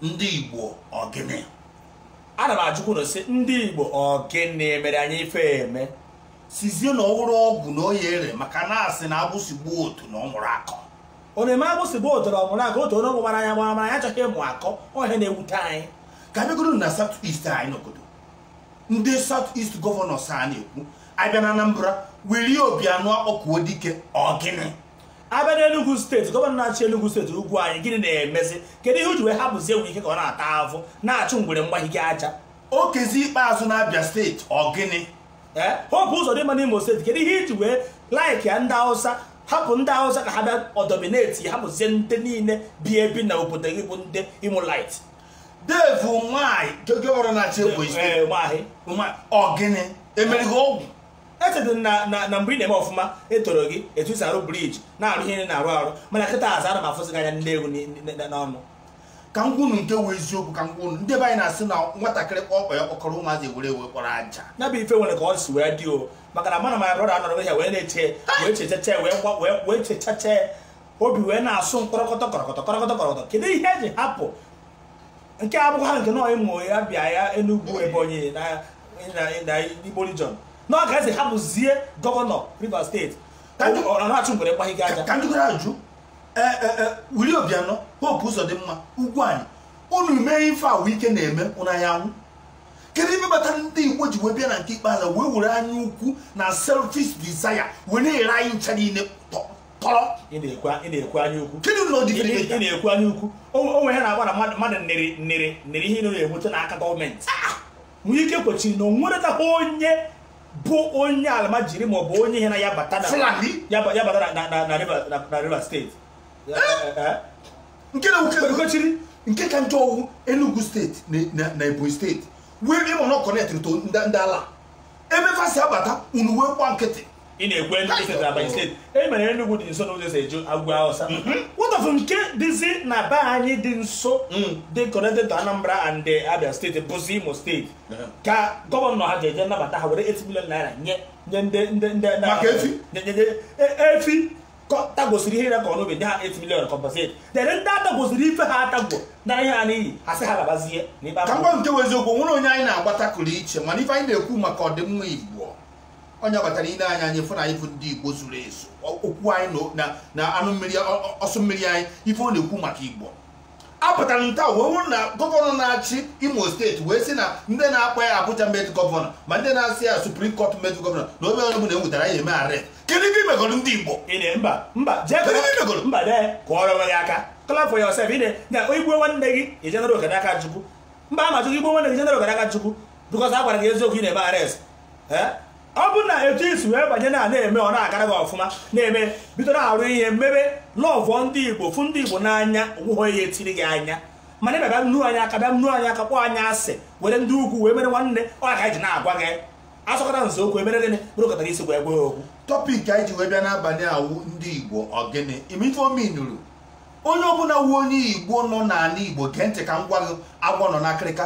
ndị igbo ọ gịnị ana m ajụkwanụ sị ndị igbo ọ gịnị mere anyị ife emesizie na ọ bụrụ ọgwụ na ọ ya-ere maka na a sị na agbụsị gbaa otune ọ mụrụ akọ ọ na-eme agbụsị gbaa otune ọ mụrụ akọ otune ọ gbara anyị gbamara anyị achọghị ịmụ akọ ọ ihe na-ewute anyị ka a bịagodu na south east anyị n'obodo ndị south east gọvanọs a na-ekwu a bịa na Anambra Willie Obiano Akpọkuodike ọ gịnị a bịa n'Enugu steeti gọvanọ na-achị Enugu steeti Ugwuanyi gịnị na-emezi kedu ihe o ji wee hapụzie Wike ka ọ na-ata avụ na-achụ ngwere mgbahige aja Okezie Ikpeazu na Abia steeti ọ gịnị ee Hope Uzodimma n'Imo steeti kedu ihe i ji wee laiki ya ndị Hausa hapụ ndị Hausa ka ha bịa adọmineti hapụzie ndị niile bi ebi na obodo gị bụ ndị Imo right Dave Umahi gọvanọ na-achị Ebonyi steeti ọ gịnị e mere gị ọgwụ echedị na na na mgbe ị na-eme ọfụma e toro gị etu i si arụ briji na-arụ ihe ị na-arụ arụ mana kịtaazị ana m afụzi gị anya nne egwu ni- ni- ni- n'ọnụ ka m kwunu nke wụ eziokwu ka m kwunu ndị be anyị na-asị na nwatakịrị kpọọ ọba ya mkpọkọrọ ụmụazị ewere wee kporo aja ya bụ ife nwere ka ọ si wee dị o maka na mana my brother anọrọ ya wee na-eche wee chechache wee gba wee wee chechache obi wee na-asụ mkpọrọkọtọ kọrọkọtọ kọrọkọtọ kọrọkọtọ kedu ihe e ji hapụ nke a bụkwa nke nọ Imo ya Abịa ya Enugu Ebonyi na na Igbo region na ọ ga-esi hapụzie gọvanọ Rivers steeti Ka ndị- ọ na-achụ ngwere gbaghị gị aja ka m jụkwara ajụ ee ee ee Willie Obiano Hope Uzodimma Ugwuanyi unu mee ife a Wike na-eme unu a ya-anwụ kedu ife kpatara ndị igbo ji wee bịa na nke ikpeazụ wee were anya ukwu na selfish desire wee na-ere anyị ncha niile tọ tọrọ ị na-ekwu ị na-ekwu anya ukwu kedu ụlọ dị ị ị na-ekwu anya ukwu o o nwere ihe na-agba na mmadụ mmadụ nịrị nịrị nịrị ihe ị na-enweta n'aka gọọmenti Wike kwechiri na o nweretakwa onye bụ onye alamajiri ma ọ bụ onye ihe na ya bata na Fulani? ya ba- ya bata na- na- na- na River- na- na River steeti Eh, eh. nke na Wike kwechiri. nke ka njọ ọ wụ Enugu steeti na- na- na Ebonyi steeti wee ị ma na ọ kọnetịrị to ndị ndị ala ebe fa si abata unu wee gba nkịtị ị na-ekwe ndị steeti Ebonyi steeti e mere Enugu dị nso n'ụzọ e si eje Ugwu Hausa mm-hmm. what of nke dịzi na be anyị dị nso mm. dị connected to Anambra and Abia steeti bụzi Imo steeti ka gọvanọ ha ga-eje nabata ha were 8 million naira nye nye ndị ndị ndị maka efi e, efi tagosiri ihe na-akọ n'ubi ndị a 8 million compensate dere ndị a tagosiri ife ha a tago naa ihe ha n'iyi ha sị ha labazie na ikpe ka m gwa nke bụ eziokwu nwere onye anyị na-agbata kụrụ iche mana ife anyị na-ekwu maka ọdịmma igbo onye batara ile anya anyị fụ na anyị bụ ndị igbo zuru ezu okwu anyị na- na na anụ mmiri ọ- ọ- ọsụ mmiri anyị ife ọ na-ekwu maka igbo apụtara nta wee wụrụ na gọvanọ na-achị imo steeti wee sị na ndị na-akpọ ya Abuja made governor ma ndị na-asị ya Supreme Court made governor na ọ bụrụ na enwetara ya eme arrest kedu ife imegoro ndị igbo mba mba jee kedu ife imegoro mba dee kụọrọ onwe gị aka clap for yourself ide na igbue nwanne gị ijenara oke n'aka chukwu mba ama chukwu igbue nwanne gị ijenara oke n'aka chukwu because a gwara gị eziokwu ị na-eme arrest ọ bụ na etu i si wee banye na na-eme ọ na-agara gị ọfụma na-eme bido na-arụ ihe mmebe lọvụọ ndị igbo fụ ndị igbo n'anya onweghị onye etiri gị anya mana ịbịa bịa nnu anyị aka bịa nnu anyị aka kpọọ anyị asị were ndị ugwu wee mere nwanne ọ ka anyị ji na-agwa gị asọkata eze okwu emere gịnị kpuru nkata n'isi wee gwa ya okwu topic anyị ji wee bịa n'abalị a wụ ndị igbo ọ gịnị imife ominuru onye ọbụla wụ onye igbo nọ n'ala igbo gee ntị ka m gwa gị agwọ nọ n'akịrịka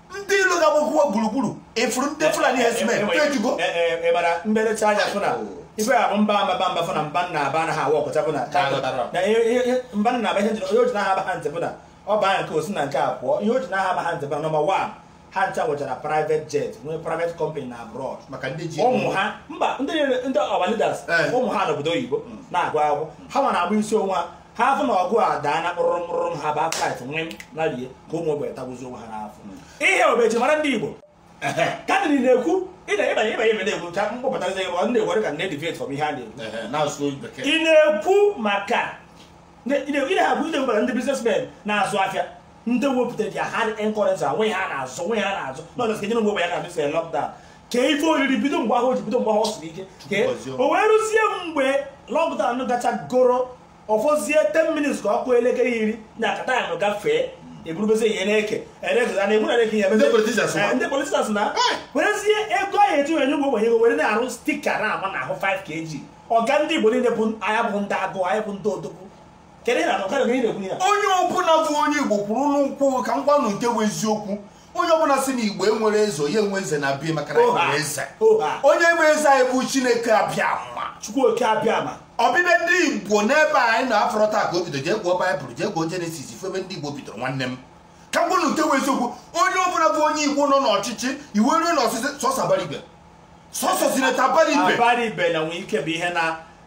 ndị ilo ga-agbakwuo gburugburu efuru ndị fulani herdsmen ejugo ịmara mberecha anya fụ na ife a bụ mba mba mba fụ na mba a na-aba anagha awa ọkọcha bụ na na ihe- ihe- ihe- mba a na-aba ihe njiri onye o ji anagha aba ha ntị bụ na ọ banye nke a o si na nke a pụọ ihe o ji anagha aba ha ntị bụ na number one ha ncha nwechara private jet nwee private company na abroad maka ndị ji ụmụ ha mba ndị niile- ndị ọba leaders Eh. ụmụ ha n'obodo oyibo na-agụ akwụkwọ ha ma na-agba isi onwe ha ha afụ na ọgụ adaa na kpụrụrụ kpụrụ ụmụ ha baa flight wee narie ka ụmụ ogbenye tagbuzi onwe ha n'afọ ihe obeji mara ndị igbo kadịrị na-ekwu ịna ịbanye ịbanye ebe na-ekwu ka mkpọpụtazi ebe ọ na-ekwu ka na-edeviate from ihe a na-ekwu Ehe, na-asụ bekee ị na-ekwu maka ị na-ekwu ị na-ekwu maka ndị businessmen na-azụ afịa ndị wepụtara their hard earned currency were na-azụ were na-azụ nọọsụ kenyere ogbenye na-amesi lockdown ka ife oriri bido mgbe ahụ o ji bido mgbe ahụ ọ siri ike kee o wee rụzie mgbe lockdown gacha goro ọfọzie 10 minutes ka ọ kụọ elekere iri na akata ya nụ gafee eburubezi ihe na-eke eregoza na egbu na-eke ya Ndị politicians ma. ndị politicians na werezie ego ahụ eji wenye ụmụ ogbenye ego were na-arụ sticker na-ama n'ahụ 5 kg ọga ndị igbo niile bụ anyị bụ ndị agụ anyị bụ ndị odogwu Kedu ihe na-akọ? Kedu ihe na-ekwu ihe a? onye ọbụla bụ onye igbo kwụrụ n'ụkwụ ka m gwanụ nke bụ eziokwu onye ọbụla si na igbo enwerọ eze onye enwe eze na be ya maka na anyị nwere eze Oha. onye bụ eze anyị bụ chineke abịama Chukwu okike abịama. ọbịbịa ndị igbo n'ebe a anyị nọ abụrọ taa ka o bido jee gụọ baịbụl jee gụọ jenesis ị fụ ebe ndị igbo bidoro nwanne m ka m gwanụ nke bụ eziokwu onye ọbụla bụ onye igbo nọ n'ọchịchị iwe ruo n'ọsịsị sọsọ abaribe sọsọ senator abaribe Abaribe na nwee ike bụ ihe na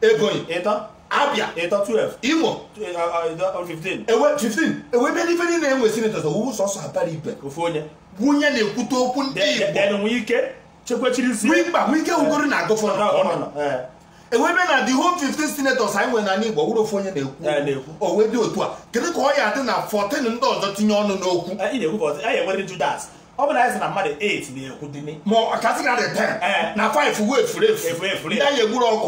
Ebonyi ịtọ Abia ịtọ 12 Imo 15 ewe 15 e wee bịa n'ife niile enwe senators ọ wụ sọsọ Abaribe ofu onye wụ onye na-ekwute okwu ndị Igbo nwee ike chekwechiri isi nwee mkpa nwee ike wụgoro na agụfọ na ọnọ e wee bịa na the whole 15 senators anyị nwere n'ala Igbo wụrụ ofu onye na-ekwu o wee dị otu a kedu ka ọ ya adị na 14 ndị ọzọ tinye ọnụ n'okwu ọ bụ na anyị sị na mmadụ 8 na-ekwu dị ni ma ọ kasị na dị 10 na 5 wee furu efu efu efu ndị anyị egburu ọkụ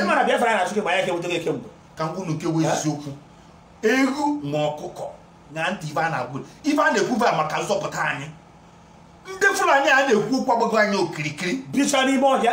ịmara Biafra na chukwu ma ya kewudo gị ekemgbe ka m gwa unu nke wụ eziokwu ewu na ọkụkọ na ntị ife a na-agwụ ife a na-ekwuba maka nzọpụta anyị ndị fulani a na-ekwu okwu agbago anyị okirikiri bicha n'ime ọhịa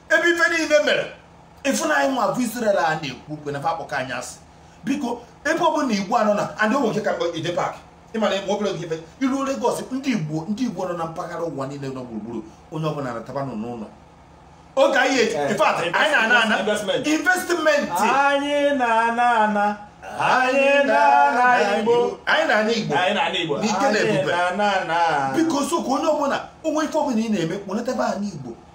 ebe ife niile mere ị fụ na anyị nwa bụ Israel a na-ekwu okwu na fa akpọka anyị asị biko ebe ọ bụla igbo nọ na adị onwe nke ka ide pack ịmana ịma obere oge ife iruo Lagos ndị igbo ndị igbo nọ na mpaghara ụwa niile nọ gburugburu onye ọbụla nataba nọ n'ụlọ oge anyị eji eh. in fact anyị na-ana ana investment anyị na-ana ana anyị na-ana igbo anyị na-ana igbo anyị na-ana igbo n'ike na ebube biko so ka onye ọbụla o nwee ife ọbụla ị na-eme kpọlata be anyị igbo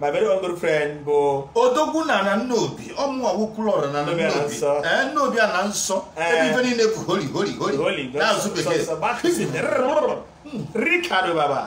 my very own good friend bụ odogwu na na nnobi ọ mụnwa wụ Okwulọra na na Nnobi Ana nnobi Nsọ. ee nnobi ana nsọ Ee. ebe ife niile bụ holy holy holy Holy n'asụ bekee Ricardo Baba